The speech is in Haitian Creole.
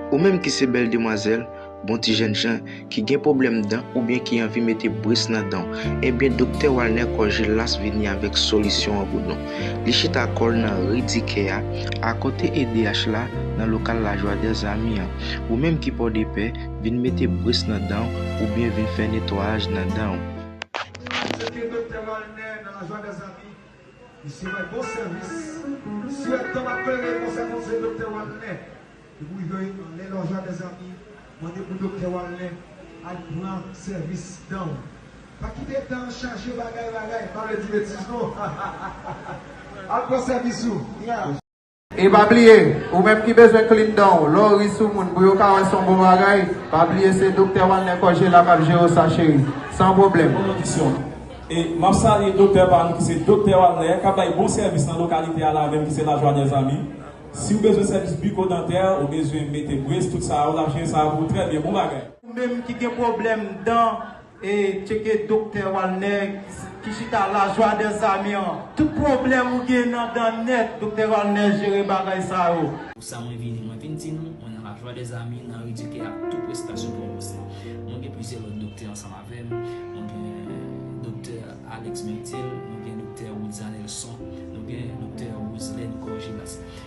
Ou menm ki se bèl demwazèl, bon ti jènjan, ki gen pwoblèm dan oubyen ki anvi mete bris nan dan w, ebyen Doktè Walner Corgillas vini avèk solisyon an pou nou. Li chita kò l nan ri Dikè a, akote edh la, nan lokal La Joie des Amis an. Ou menm ki Pòdepè, vin mete bris nan dan w oubyen vin fè netwayaj nan dan w. Vizite Doktè Walner nan La Joie des Amis. Misye bay bon sèvis. Si yap tanm ap klere konsè konseye doktè walner depi ou rive anlè lòjwa mezanmi mande pou doktè walner al pran sèvis dan ou pa kite dan an chaje bagay bagay pa vle di betiz non al pran sèvis ou. E pa bliye, ou menm ki bezwen klin dan w, lè w ri sou moun pou yo ka wè son bon bagay, pa bliye se Doktè Walner Cògé la kap jere w sa cheri. San pwoblèm. Bon lodisyon. E map salye Doktè pa nou ki se Doktè Walner kap bay bon sèvis nan lokalite a la menm ki se La Joie des Amis. Si w bezwen sèvis bikodantè, ou bezwen mete brace tout sa yo lap jere sa yo pou ou trè byen. Bon bagay. Ou menm ki gen pwoblèm dan. E tcheke Doktè Walner ki chita la joie des amis an. Tout pwoblèm ou gen nan dan nèt Doktè Walner jere bagay sa yo. Pou sa mwen vini, mwen vin di nou, mwen nan la joie des amis nan redike ak tout prestasyon pou mwen se. Mwen gen plizyè lòt doktè ansanm avè m, mwen gen Doktè Alex Mertil, nou gen Doktè Rodzanelson, nou gen Doktè Roselène Corgilas.